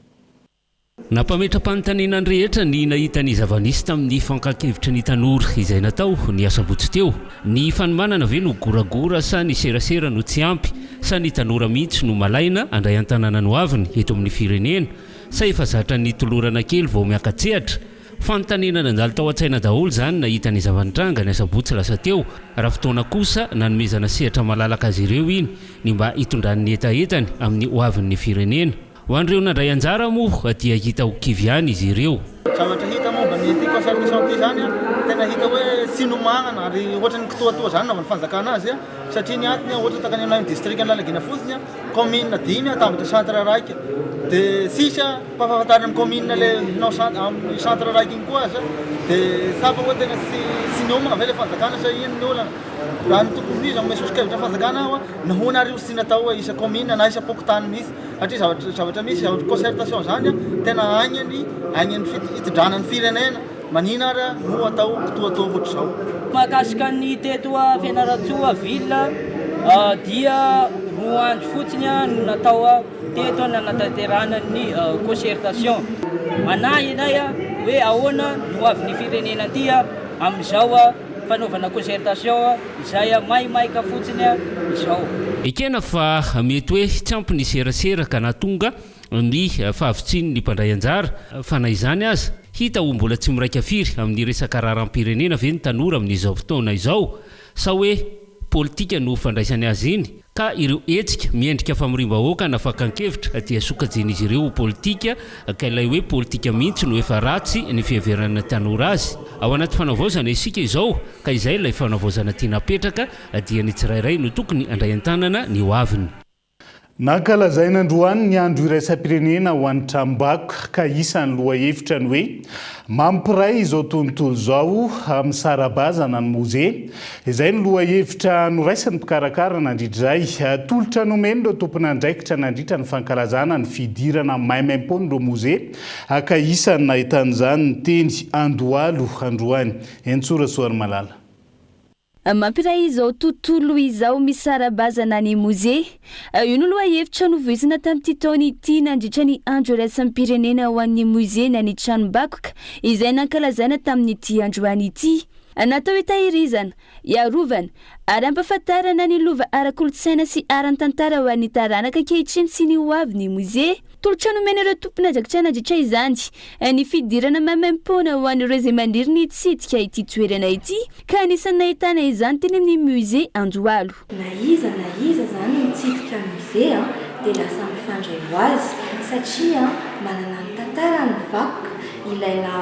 Nampametra-panontaniana ny rehetra ny nahita ny zava-nisy tamin'ny fakan-kevitry ny tanora izay natao ny asabotsy teo. Ny fanomanana ve no goragora sa ny serasera no tsy ampy? Sa ny tanora mihitsy no malaina handray an-tananany hoaviny eto amin'ny firenena? Sa efa zatra ny tolorana kely vao miaka-tsehatra? Fanontaniana nandalo tao an-tsaina daholo izany nahita ny zava-nitranga ny asabotsy lasa teo, raha fotoana kosa nanomezana sehatra malalaka azy ireo iny ny mba hitondrany ny hetahetany amin'ny ho avin'ny firenena. Ho an'ireo nandray anjara moa dia hita ho kivy ihany izy ireo. Zavatra hita momba ny ity concert de chant ity izany an, tena hita hoe tsy nomanana ary ohatran'ny kitoatoa izany nanaovan'ny fanjakana azy satria ny antony ohatra takanin'ny anatin'ny distrikan'Analalagena fotsiny an, commune dimy an, tambatra centre raika dia sisa. Ampahafantarina ny kaominina ilay hanao centre, amin'ny centre raiky iny koa aza dia tsapa hoe tena tsy tsy miomana ve ilay fanjakana sa inona ny olana? Raha ny tokony ho izy hanome soso-kevitra ny fanjakana aho a, nahoana ary io tsy tiana atao hoe isa-kaominina na isa-pokontany mihitsy? Satria zavatra zavatra misy zavatra concertation izany a, tena agny ny agny ny fit- fitondrana ny firenena, manina ary a no atao kitoatoa ohatr'izao? Mahakasika ny teto Fianarantsoa ville dia roa andro fotsiny no natao Teto nanatanterahana ny cocertation. Manahy ianay hoe ahoana ny ho avin'ny firenena aty amin'izao fanaovana cocertation izay maimaika fotsiny izao. Ekena fa mety hoe tsy ampy ny serasera ka nahatonga ny fahavitsian'ny mpandray anjara, fa na izany aza, hita ho mbola tsy miraika firy amin'ny resaka raharaham-pirenena ve ny tanora amin'izao fotoana izao? Sa hoe politika no fandraisany azy iny ka ireo hetsika miendrika famoriam-bahoaka na fakan-kevitra dia sokajian'izy ireo ho politika ka ilay hoe politika mihitsy no efa ratsy ny fiheveran'ny tanora azy? Ao anaty fanavaozana isika izao ka izay ilay fanavaozana tiana apetraka dia ny tsirairay no tokony handray an-tanana ny hoaviny. Nankalazaina androany ny Andro iraisam-pirenena ho an'ny tranombakoka ka isan'ny lohahevitra ny hoe Mampiray izao tontolo izao amin'ny sarabazana ny Mozea. Izay no lohahevitra noraisin'ny mpikarakara nandritra izay tolotra nomen'ireo tomponandraikitra nandritra ny fankalazana ny fidirana maimaimpoan'ireo Mozea ka isan'ny nahitana izany ny teny Andohalo androany. Eny Tsoa Rasoarimalala. Mampiray izao tontolo izao misara-bazana ny Mozea. Io no lohahevitra novoizina tamin'ity taona ity nandritra ny Andro Iraisam-pirenena ho an'ny Mozea na ny Tranombakoka izay nankalazaina tamin'ity androany ity. Natao hitahirizana, hiarovana ary hampahafantarana ny lova ara-kolontsaina sy ara-tantara ho an'ny taranaka ankehitriny sy ny hoavy ny Mozea. Tolotra nomen'ireo tompon'ajakitra nandritra izany ny fidirana maimaimpoana ho an'ireo izay maniry ny hitsidika ity toerana ity ka anisan'ny nahitana izany teny amin'ny Musée Andohalo. Na iza na iza izany mitsidika Musée dia lasa mifandray ho azy satria manana ny tantarany ny vakoka, ilaina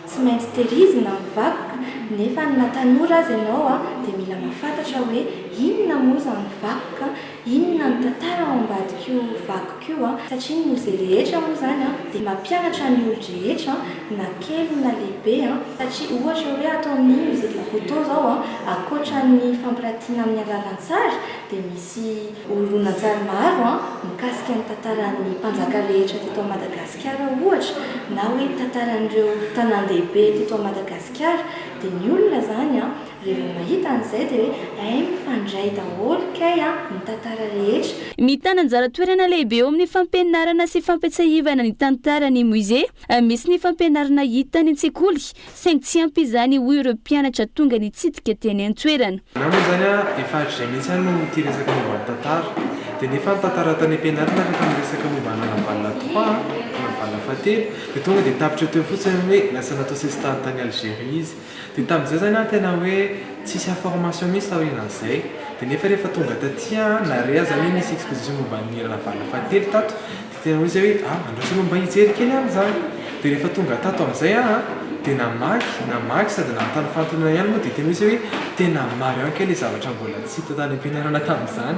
tsy maintsy tehirizina ny vakoka nefa na tanora aza ianao dia mila mahafantatra hoe inona moa izany vakoka. Inona no tantara ao ambadik'io vakiko io an? Satria ny mozea rehetra moa izany an dia mampianatra ny olon-drehetra na kely na lehibe an, satria ohatra hoe ato amin'ny musée de Koto izao an, ankoatran'ny fampiratiana amin'ny alalan-tsary dia misy horonan-tsary maro an mikasika ny tantaran'ny mpanjaka rehetra teto à Madagasikara ohatra na hoe tantaran'ireo tanàn-dehibe teto à Madagasikara dia ny olona izany an Dia vao mahita an'izay dia hoe hay mifandray daholo kay an ny tantara rehetra. Mitana anjara toerana lehibe eo amin'ny fampianarana sy fampiatsahivana ny tantara ny musée. Misy ny fampianarana hita any an-tsekoly, saingy tsy ampy izany hoy ireo mpianatra tonga nitsidika teny an-toerana. Ianao moa izany an, efa hatrizay mihitsy aho no tia resaka momba ny tantara. Dia nefa ny tantara tany am-pianarana rehefa miresaka momba an'i Ravavalona trois an, Ravavalona fahatelo, dia tonga dia tapitra teo fotsiny ny hoe lasa natao sesitany tany Algerie izy. Dia tamin'izay zany an tena hoe tsisy information mintsy taorianan'izay, dia nefa rehefa tonga taty an narea zany hoe nisy exposition momba ny Ranavalona fahatelo tato, dia tena hoe zay hoe a andraso aloha mba hijery kely an zany, dia rehefa tonga tato amin'izay aho an dia namaky namaky sady nanontany fanontaniana ihany moa dia tena hoe zay hoe tena marihao kay le zavatra mbola tsy hita tany am-pianarana tamin'izany.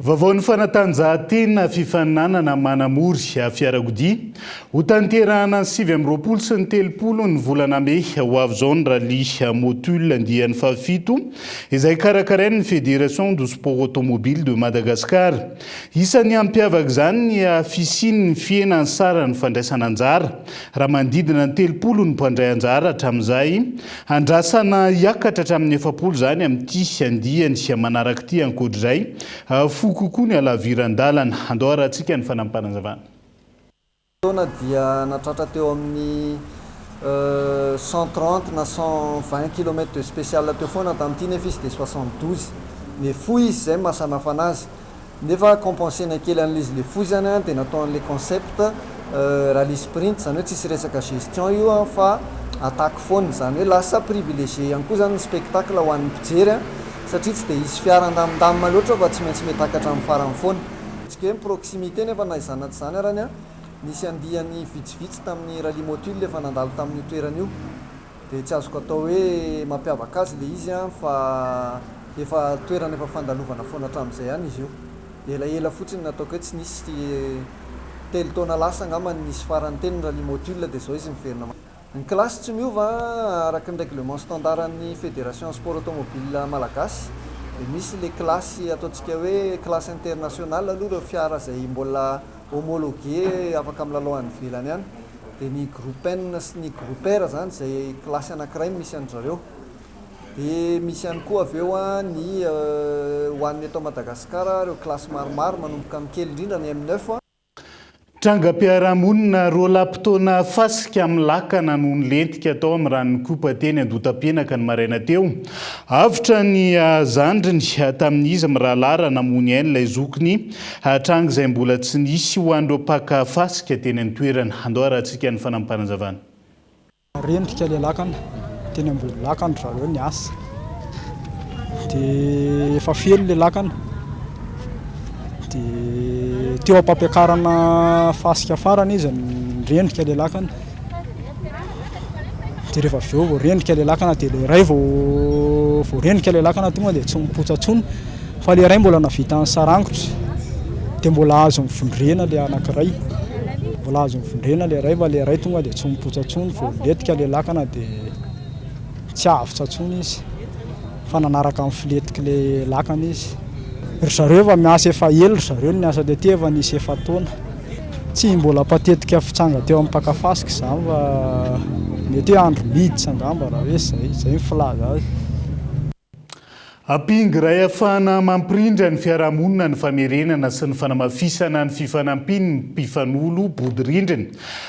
Vaovaon'ny fanatanjahantena fifaninanana manamory fiarakodia, hotanterahana ny sivy amby roapolo sy ny telopolo ny volana mey ho avy izao ny Rallye Motul andiany fahafito izay karakarain'ny Fédération du Sport Automobile de Madagascar. Isan'ny hampiavaka izany ny fisian'ny fihenan'ny saran'ny fandraisana anjara raha manodidina ny telopolo ny mpandray anjara hatramin'izay. Andrasana hiakatra hatramin'ny efapolo izany amin'ity andiany manaraka ity. Ankoatr'izay, fohy kokoa ny halaviran-dalana. Andao harahantsika ny fanampim-panazavana. taona dia natratra teo amin'ny cent trente na cent vingt kilomètre de special teo foana tamin'ity nefa izy dia soixante douze mais fohy izy izay maha samihafana azy Nefa compenser-na kely an'l'izy le foizany dia natao an'le concept rallye sprint zany hoe tsisy resaka gestion io fa attaque foana zany hoe lasa privilegier ihany koa zany ny spectacle ho an'ny mpijery satria tsy dia hisy fiara handamindamina loatra fa tsy maintsy mety hakatra amin'ny farany foana. Ataontsika hoe mi-proximité nefa na izany na tsy izany arany, nisy andiany vitsivitsy tamin'ny rallye motul efa nandalo tamin'io toerana io. Dia tsy azoko atao hoe mampiavaka azy ilay izy an, fa efa toerana efa fandalovana foana hatramin'izay ihany izy io. Elaela fotsiny no nataoko eto, tsy nisy, telo taona lasa angamba no nisy farany teny ny rallye motul dia izao izy miverina mandeha. Ny kilasy tsy miova araka ny règlement standard an'ny Fédération Sport Automobile Malagasy, dia misy ilay kilasy ataontsika hoe classe internationale aloha ireo fiara izay mbola, homologuer afaka milalao any ivelany any dia ny groupen sy ny grouper izany izay kilasy anankiray no misy an-dry zareo dia misy ihany koa avy eo ny ho an'ny eto Madagasikara ireo kilasy maromaro manomboka amin'ny kely indrindra ny M neuf Trangam-piarahamonina roa lahy mpitaona fasika amin'ny lakana no nilentika tao amin'ny ranon'Ikopa teny Andotapenaka ny maraina teo. Avotra ny zandriny tamin'izy mirahalahy raha namoy ny ainy ilay zokiny Hatranga izay mbola tsy nisy ho an'ireo mpaka fasika teny an-toerana. Andao harahantsika ny fanampahan-javana. Rendrika ilay lakana, teny ambony lakana ry zareo niasa, dia efa feno ilay lakana, dia teo am-pampiakarana fasika farany izy, nirendrika ilay lakana. dia rehefa avy eo vao rendrika ilay lakana dia ilay iray vao vao rendrika ilay lakana tonga dia tsy mipotsa intsony fa ilay iray mbola navitan'ny sarangotry dia mbola azo mivondrena ilay anankiray mbola azo mivondrena ilay iray fa ilay iray tonga dia tsy mipotsa intsony vao letika ilay lakana dia tsy avotra intsony izy fa nanaraka amin'ny filetika ilay lakana izy ry zareo efa miasa efa ela ry zareo ny asa tety efa nisy efa taona Tsy mbola patetika fitsanga teo am paka fasika izany fa mety hoe andro miditra angamba raha hoe izay, izay ny filaza azy. Ampingo iray afahana mampirindra ny fiarahamonina ny famerenana sy ny fanamafisana ny fifanampian' ny mpifanolo bodirindrina.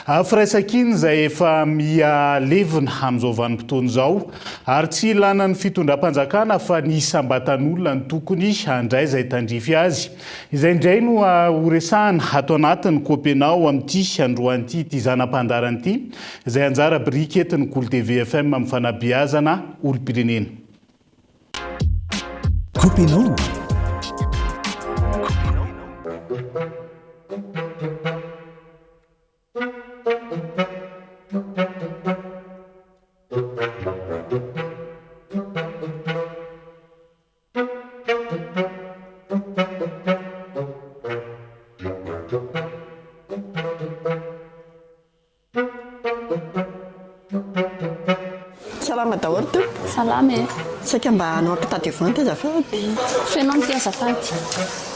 A Firaisankina izay efa miha levona amin' izao vanim-potoana izao ary tsy ilanan' ny fitondram-panjakana fa ny isam-batan'olona no tokony handray izay tandrify azy Izay indray no horesahana ato anatin'ny Copenao amin'ity androany ity, ity zana-pandaharana ity, izay anjara biriky eto ny Goul TV FM amin'ny fanabeazana olom-pirenena. Copenao. Salama daholo Tompo. Salama e. Saika mba hanao ampitadiavante azafady. Feno amty azafady.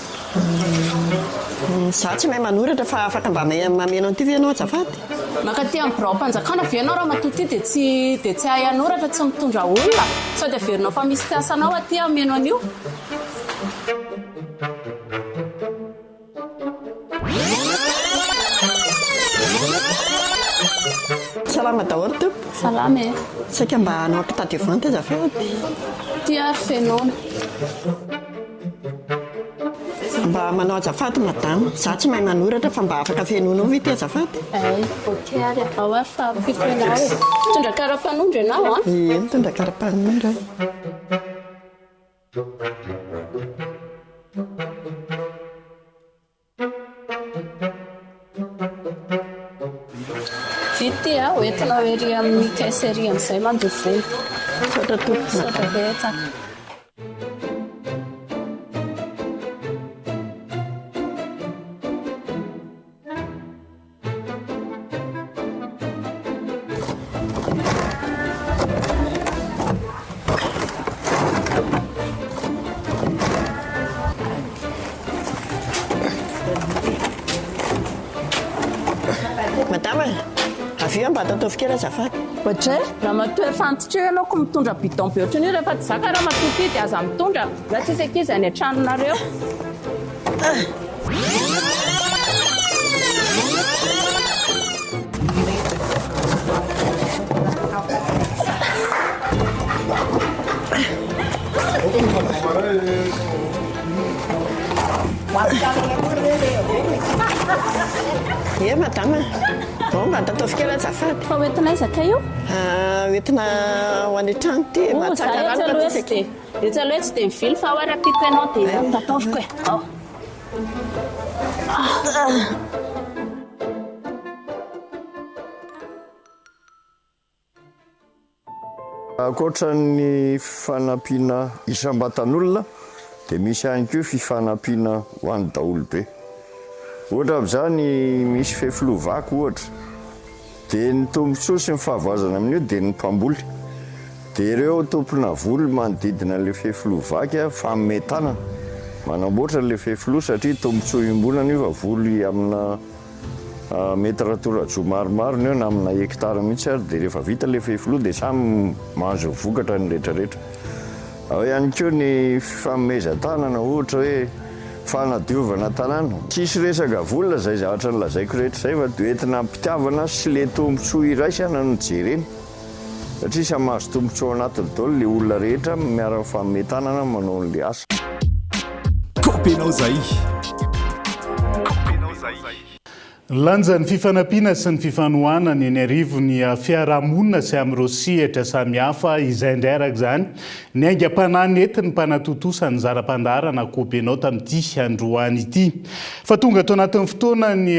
Izaho tsy mahay manoratra fa afaka mba mameno an'ity ve ianao azafady? Mankaty amin'ny biraom-panjakana ve ianao ramatoa ity dia tsy dia tsy hahay hanoratra tsy mitondra olona? Sao dia averinao fa misy mpiasa anao aty hameno an'io? Salama daholo tompoko. Salama e. Saika mba hanao carte de vente azafady. Ity ary fenoina. Mba manao azafady madame, za tsy mahay manoratra fa mba afaka fenoinao ve ity azafady? Ay, ok ary atao ary fa ampiko ianao e. Mitondra karapanondro ianao an? Ie, mitondra karapanondro aho. Vity a, ho entinao ery amin'ny caisse ery amin'izay mandoa vola. Misaotra tompoko, misaotra betsaka. kely azafady ohatray ramatoa efa antitreo ianao ko mitondra bidon be ohatran'io rehefa tsy zaka ramatoa ty dia aza mitondra na tsisy ankizy any an-tranonareo Ye madame, bon mba ataovy kely azafady. Fa hoentinaiza kay io? Ah, hoentina ho any an-trano ity, mahatsara rano matetika. Etsy aloha etsy dia mivily fa hoy rahampiko ianao dia ataoviko e. Ankoatra ny fanampiana isam-batan'olona dia misy ihany koa fifanampiana ho an'ny daholobe. Ohatra amin'izany misy fefiloha vaky ohatra. Dia ny tombontsoa sy ny fahavoazana amin'io dia ny mpamboly, dia ireo tompona voly manodidina an'ilay fefiloha vaky a, fanome tanana, manamboatra an'ilay fefiloha satria tombontsoa iombonana io fa voly amina mety raha toa rajoa maromaro ny eo na amina hekitara mihitsy ary dia rehefa vita ilay fefiloha dia samy manjo ny vokatra ny rehetrarehetra. Ao ihany koa ny fifanomezan-tanana ohatra hoe fanadiovana tanàna. Tsisy resaka vola izay zavatra nolazaiko rehetra izay fa dia entina am-pitiavana sy le tombotsoa iraisana no jerena satria samy mahazo tombotsoa anatiny daholo le olona rehetra miara mifanome tanana manao an'le asa. Copy anao zay. Ny lanjan'ny fifanampiana sy ny fifanohanana eny arivon'ny fiarahamonina sy amin'ireo sehatra samihafa izay indray araka izany ny aingam-panahy nentin'ny mpanatontosa ny zara pandaharana Kobenao tamin'ity androany ity. Fa tonga ato anatin'ny fotoana ny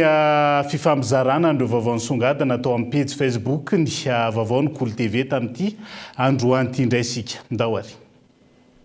fifampizarana an'ireo vaovao nisongadina tao amin'ny pejy Facebook ny vaovao ny Kolo TV tamin'ity androany ity indray isika. Ndao ary.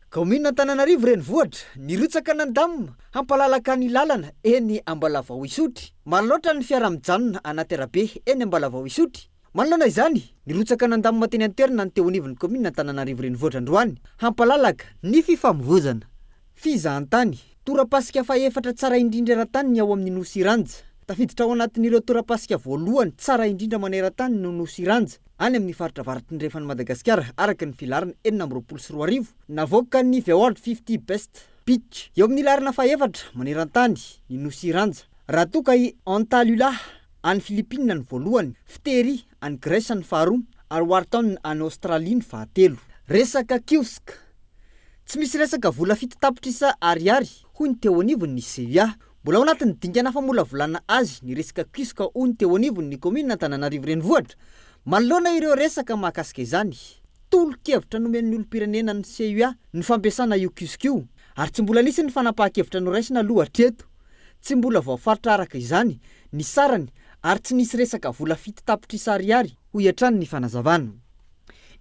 Kaominina Antananarivo Renivohitra, nirotsaka nandam hampalalaka ny lalana eny Ambalavao Isotry. Maro loatra ny fiara mijanona anaty arabe eny Ambalavao Isotry. Manoloana izany, nirotsaka nandamina teny an-toerana ny teo anivon'ny kaominina Antananarivo Renivohitra androany, hampalalaka ny fifamoivoizana fizahantany. Torapasika fahefatra tsara indrindra eran-tany ny ao amin'ny Nosy Iranja. Tafiditra ao anatin'ireo torapasika voalohany tsara indrindra maneran-tany ny Nosy Iranja, any amin'ny faritra avaratrindrefan'i Madagasikara, araka ny filaharana enina amby roapolo sy roa arivo, navoakan'ny The World Fifty Best Beach. Eo amin'ny laharana fahefatra maneran-tany ny Nosy Iranja, raha toa ka i Antalula, any Filipina no voalohany, fitery any Grèce ny faharoa ary Wharton any Australie ny fahatelo. Resaka kiosk. Tsy misy resaka vola fito tapitrisa Ariary, hoy ny teo anivon' ny CUA. Mbola ao anatin' ny dingana famolavolana azy ny resaka kiosk hoy ny teo anivon' ny kaomin' Antananarivo Renivohitra. Manoloana ireo resaka mahakasika izany, tolo-kevitra nomen' ny olom-pirenena ny CUA ny fampiasana io kiosk io ary tsy mbola nisy ny fanapahan-kevitra noraisina aloha hatreto. Tsy mbola voafaritra araka izany ny sarany ary tsy nisy resaka vola fito tapitrisa ariary, hoy hatrany ny fanazavana.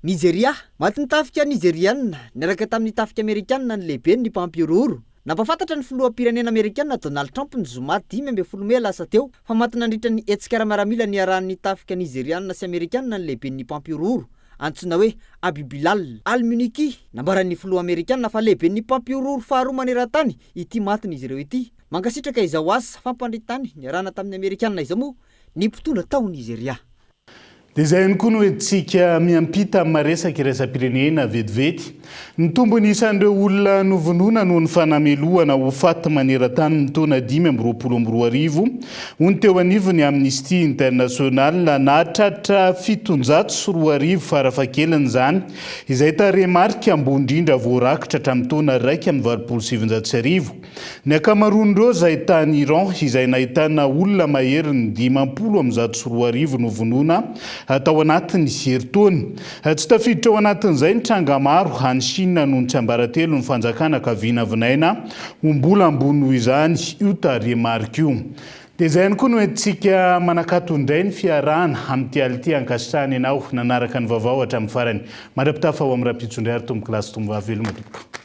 Nizeria, Matin'ny tafika Nizeriana niaraka tamin'ny tafika Amerikana ny lehiben'ny mpampihorohoro. Nampahafantatra ny filoham-pirenena Amerikana Donald Trump ny zoma dimy ambin'ny folo mey lasa teo fa maty nandritra ny hetsika ara-miaramila niarahan'ny tafika Nizeriana sy Amerikana ny lehiben'ny mpampihorohoro antsoina hoe Abibilal al-Muniki. Nambaran'ny filoha Amerikana fa lehiben'ny mpampihorohoro faharoa maneran-tany ity matin'izy ireo ity. Mankasitraka izao asa fampandritany niarahana tamin'ny Amerikana izao moa ny mpitondra tao Nizeria. Dia izay ihany koa no hoentintsika miampita amin'ny maha-resaka iraisam-pirenena vetivety, ny tombony isan'ireo olona novonoina noho ny fanamelohana ho faty maneran-tany ny taona dimy amby roapolo amby roa arivo, hoy ny teo anivon'ny Amnesty International. Nahatratra fitonjato sy roa arivo farafahakeliny izany, izay tarehimarika ambony indrindra voarakitra hatramin'ny taona iraika amby valopolo sy sivinjato sy arivo. Ny ankamaroan'ireo izay tany Iran, izay nahitana olona maherin'ny dimampolo amby zato sy roa arivo novonoina tao anatin'ny herintaona. Tsy tafiditra ao anatin'izay ny tranga maro any Shina noho ny tsiambaratelon'ny fanjakana ka vinavinaina ho mbola ambony noho izany io tarehimarika io. Dia izay ihany koa no entintsika manakato indray ny fiarahana amin'ity alina ity hankasitrahana ianao nanaraka ny vaovao hatramin'ny farany. Mandra-pitafa ho amin'ny Rampitso indray ary tompokolahy sy tompovaveloma tompoko.